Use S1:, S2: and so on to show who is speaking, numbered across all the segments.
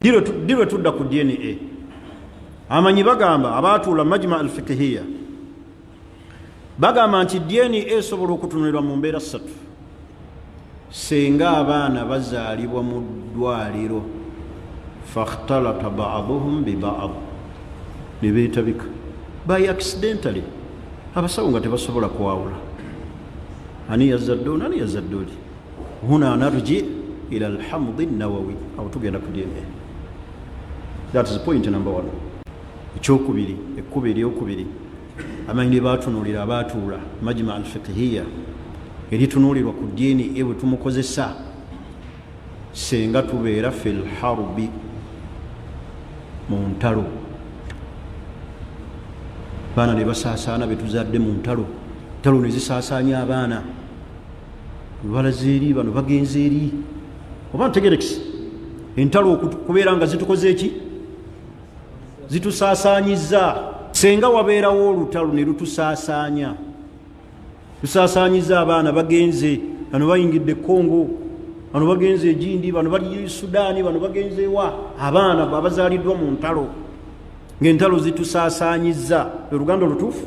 S1: ddi lwe tudda ku dna amanyi bagamba abaatuula majma al fikihiya bagamba nti dna esobola okutunulirwa mu mbeera ssatu senga abaana bazaalibwa mu ddwaliro fakhtalata baaduhum bibaad ne beetabika by accidentally abasawo nga tebasobola kwawula ani yazadde ono ani yazadde oli huna narji ila alhamdi nawawi awo tugenda ku dna that is point number one ekyokubiri ekkuba eryokubiri amanyi lyebatunulira abaatuula majima alfikihiya eritunulirwa ku dna ebwe tumukozesa senga tubeera fi lharbi mu ntalo baana ne basaasaana betuzadde mu ntalo ntalo ne zisaasaanya abaana balaze eri bano bagenze eri oba ntegerekisi entalo okubeera nga zitukoze eki zitusaasaanyiza senga wabeerawo olutalo ne lutusaasaanya tusaasaanyiza abaana bagenze bano bayingidde ekongo bano bagenze egindi bano bali sudaani bano bagenze wa abaana abazaaliddwa mu ntalo ngaentalo zitusaasaanyiza oluganda olutuufu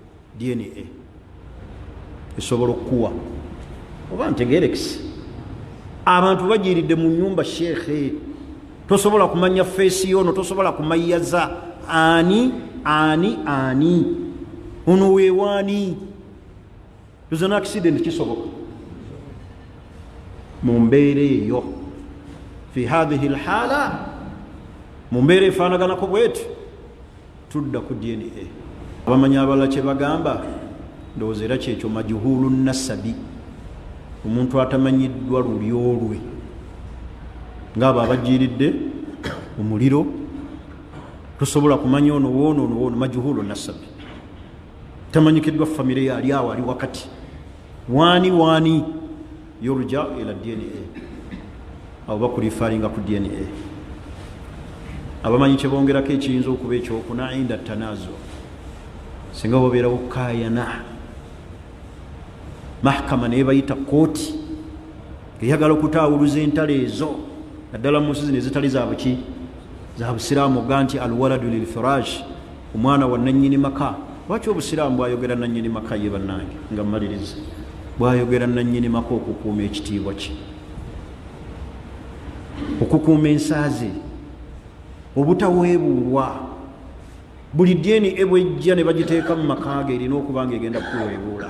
S1: dna esobola okukuwa oba ntegerekisi abantu bajiridde mu nyumba sheekhe tosobola kumanya feesi yono tosobola kumayaza ani ani ani ono wewaani is an accident kisoboka mu mbeera eyo fi hathihi lhala mu mbeera efaanaganako bweti Tudda ku DNA. Abamanyi abalala kye bagamba ndowooza era kyekyo majuhulu nasabi, omuntu atamanyiddwa lulyo lwe, ng'abo abajiiridde omuliro tosobola kumanya ono woono ono woono majuhulu nasabi, tamanyikiddwa famire yali awo ali wakati waani waani. yurja ila dna abo bakulifaringa ku dna abamanyi kyebongerako ekiyinza okuba ekyokuna inda tanazo singa babeerawo kayana mahkama naye bayita kooti eyagala okutaawuluza entalo ezo naddala mu nsi zino ezitali zabuki zabusiraamu oga nti alwaladu lilfirash omwana wa nannyini maka lwaki obusiraamu bwayogera nannyini maka ye bannange nga mmaliriza bwayogera nannyini maka okukuuma ekitiibwa kye okukuuma ensaaze obutaweebuulwa buli ddiini ebwejja ne bagiteeka mu maka ge erina okuba nga egenda kuweebuula